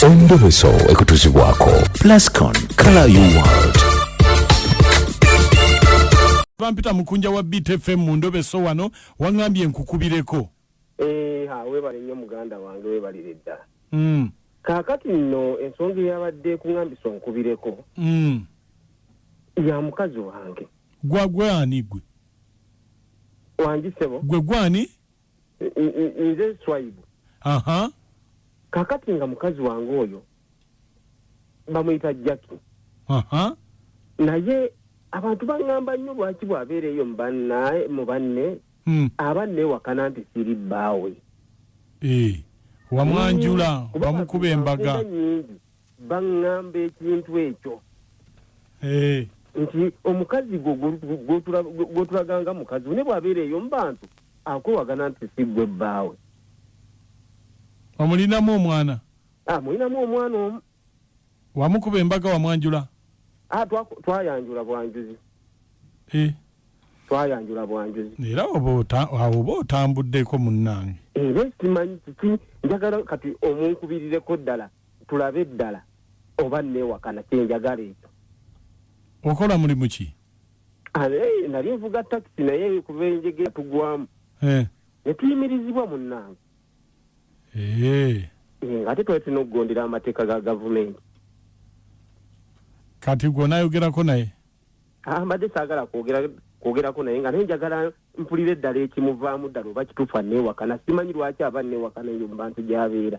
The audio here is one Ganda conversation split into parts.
endobeso ekutuzibwako plascon color you world bampita mukunja wa btfm mu ndobeso wano waŋambye nkukubireko eh, webale nnyo muganda wange webalire ddala mm. kakati nno ensonga eyabadde kuŋambisa onkubireko mm. ya mukazi wange gwagwani gwe wangisebo gwe gwani nze nswaibu kakati nga mukazi wange oyo bamuyita jaki naye abantu baŋŋamba nnyo lwaki bw'abeera eyo mu banne hmm. aba nneewakana nti siri bbaawe eh, wamwanjula wamukuba embaga baŋŋamba ekintu ekyo eh. nti omukazi gwo gwotulaganga mukazi ne bwabeera eyo mu bantu akwewagana nti si gwe bbaawe omulinamu omwana ah, mulinamu omwana omu wamukuba embaga wamwanjula ah, twayanjula bwanjuzi eh. twayanjula bwanjuzi era awo oba otambuddeko munnange era simanyi kiki njagala kati omunkubirireko ddala tulabe ddala oba nneewakana kyenjagala ekyo okola mulimu ki eh, nali nvuga takisi naye kuva enjege tugwamu eh. ne tuyimirizibwa munnange eh. ng'ate twali tulina okugondera amateeka ga gavumenti kati gwe onayogerako naye ah, mbadde saagala kwogera kwogerako naye nga naye njagala mpulira eddala ekimuvaamu ddala oba kituufu anneewakana simanyi lwaki aba nneewakana eyo mu bantu gy'abeera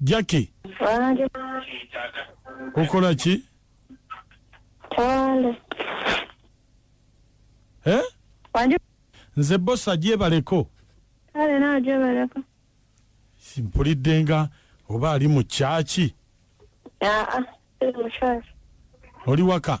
jacki okola ki eh? nze bosa gyebaleko mpulidde nga oba ali mu kyaki ah, ah, oli waka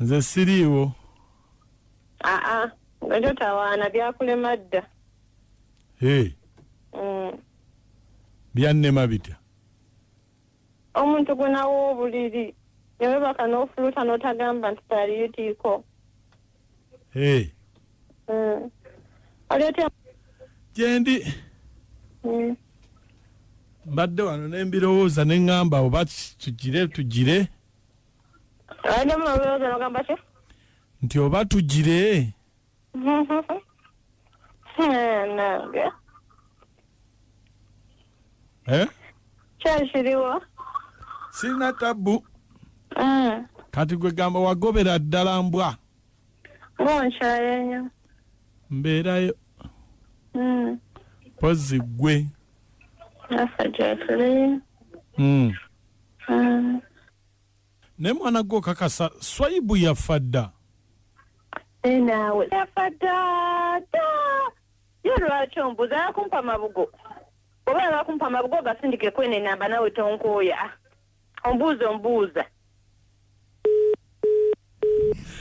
nze siriiwo aa nga totawaana byakulema dda ee Mm. byannema bitya omuntu gwenawa obuliri newebaka n'ofuluta n'otagamba nti taliyo tiiko gyendi mm. mbadde wano nembirowooza neŋŋamba oba tugire tugire nti oba tugire eh, Eh? kyekiriwo sirina tabbu Mm. kati gwe gamba wagobera ddala mbwa munkyaye nyo mbeerayo Mm. pozzi gwe naffe gyetuli Mm. Mm. naye mwana gwe okakasa swayibu yaffa dda Naye naawe yafa dda dda Ye lwaki ombuza ya kumpa mabugo oba yaba kumpa mabugo gasindike kwene enamba nawe tonkooya ah, ombuuza ombuuza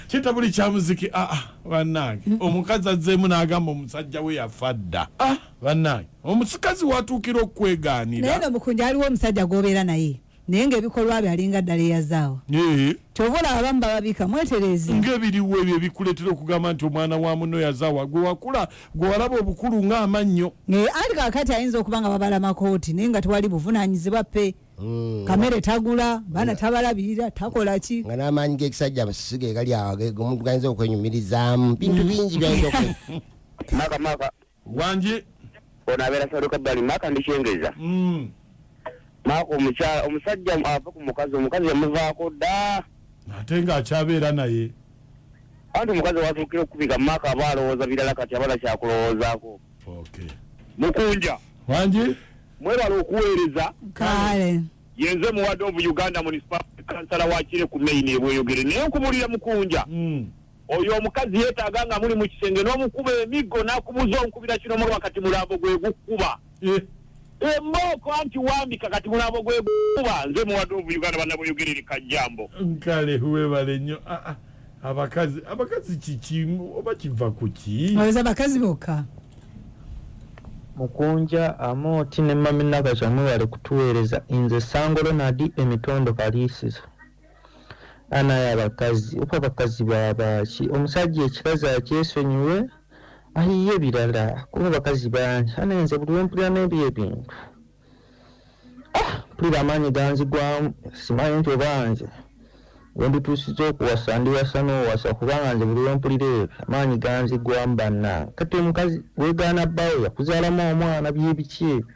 kita buli kya muziki ah, ah banange omukazi azzeemu n'agamba omusajja we yafa dda ah, banange omusikazi watuukira okukwegaanira naye nomukunja aliwo omusajja gwobeera naye naye ngaebikolwa bye alinga ddala eyazaawa kyova olaba abamu bababika mwetereeze ngaebiriwo ebyo ebikuleetera okugamba nti omwana wa muno yazaawa gwe wakula gwe walaba obukulu ng'amannyo naye ali kakati ayinza okuba nga babala makooti naye nga tewali buvunanyizibwa pe mm. kamere tagula baana tabalabirira takola ki nga n'amaanyi g'ekisajja abasisiga egali awo omuntu gayinza okwenyumirizaamu bintu mm. bingi byayinza okwe Wangi. Ono abeera Saudi Kabbali Maka ndikyengeza. Mm. Maka omukyala omusajja ava ku mukazi omukazi yamuvaako dda. Ate nga akyabeera naye. Anti omukazi watuukira okukubika Maka aba alowooza birala kati abala kyakulowoozaako. Okay. Mukunja. Wangi. Mwebala okuweereza. Kale. Yenze muwadde ovu Uganda municipal kansala wa Kire ku main ebweyogere naye nkubulira Mukunja. Mm. Oyo omukazi yetaaga nga muli mu kisenge n'omukuba emiggo n'akubuuza onkubira kino mulaba kati mulambo gwe gukuba eh. embooko anti wambika kati mulambo gwe gukuba nze muwadde ovu uganda banaboyogerere kajjambo nkale webale nnyo ah, ah. abakazi abakazi kiki oba kiva ku ki oza abakazi bokka mukunja amooti ne maminakakyamwewale kutuweereza nze sangolo nadi emitondo kaliisizo anaye abakazi oba abakazi babaaki omusajja ekikazi akyesonyiwe ayiye ebirala kuba abakazi bangi anaye nze buli wempulira nebyo ebintu ah, mpulira amaanyi ganzigwamu simanyi nti oba nze wendituusiza okuwasa ndiwasa n'owasa kubanga nze buli wempulira ebyo amaanyi ganzigwamu bannange kati omukazi wegaana bbawo yakuzaalamu omwana byebiki ebyo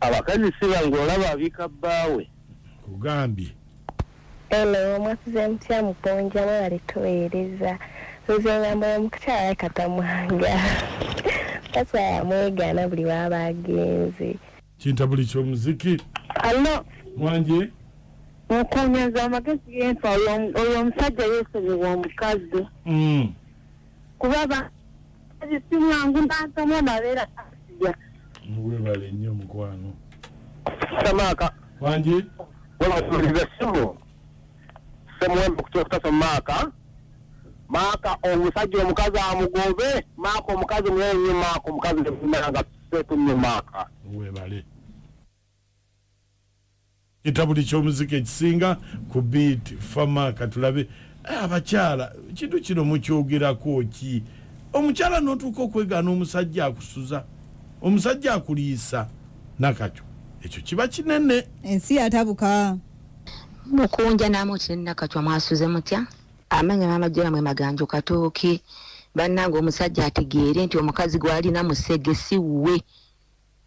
abakazi sibangu olaba abika bbaawe kugambye eno mwasize mutya muponja mwebale tuweereza nze ngamba omukukyala katamwanga takyala mwegaana buli waaba agenze kinta buli kyomuziki allo mwanje mukunyaza amagezi genfa oyo omusajja yesonyiwa omukazi mm. kuba simwangu nakamu amabeera asiya webale nnyo mukwano samaaka wangi webasuuliza simu semuwembe okutya okutasa mumaaka maaka omusajja omukazi amugobe maaka omukazi mwenyi maaka omukazi nemumeranga sekunye maaka webale Kitabuli ky'omuziki ekisinga ku beat fama katulabe eh, abakyala kintu kino mukyogerako ki omukyala notuuka okwegaana omusajja akusuza omusajja akuliisa nakakyo ekyo kiba kinene ensi yatabuka mukunja namutire nakakyo mwasuze mutya amanya mama jera mwe maganjo katooki bannange omusajja ategeere nti omukazi gwalina musege si wuwe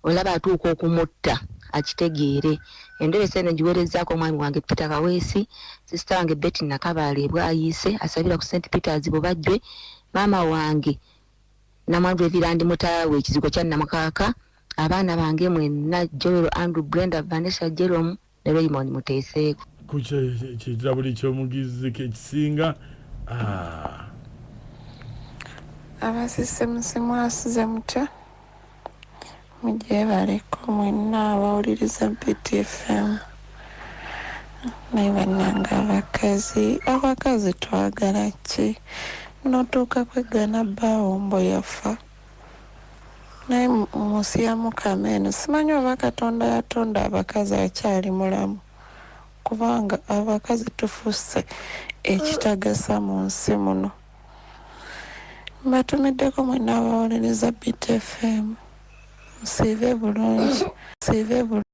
Olaba atuuka okumutta akitegeere. Enderesa eno ngiweerezzaako omwami wange Peter Kaweesi, sisita wange Betty Nakabaale bwayiise asabira ku St Peters Bubajjwe, maama wange Namwandu Evirandi Mutaawe ekizigo kya Namukaaka, abaana bange mwenna Joel, Andrew, Brenda, Vanessa, Jerome, ne Raymond muteeseeko. Ku kirabuli ky'omugizi ke kisinga. Ah. Abasise musimu asuze mutya? Mugyebaleko mwenna abawuliriza BTFM. Naye bannange abakazi, abakazi twagala ki? Notuuka kweggana bbaawo mbu yafa. naye munsi ya mukama eno simanyi oba katonda yatonda abakazi akyali mulamu kubanga abakazi tufusse ekitagasa mu nsi muno mbatumiddeko mwena abawolereza btfm musiive bulungi siive bulungi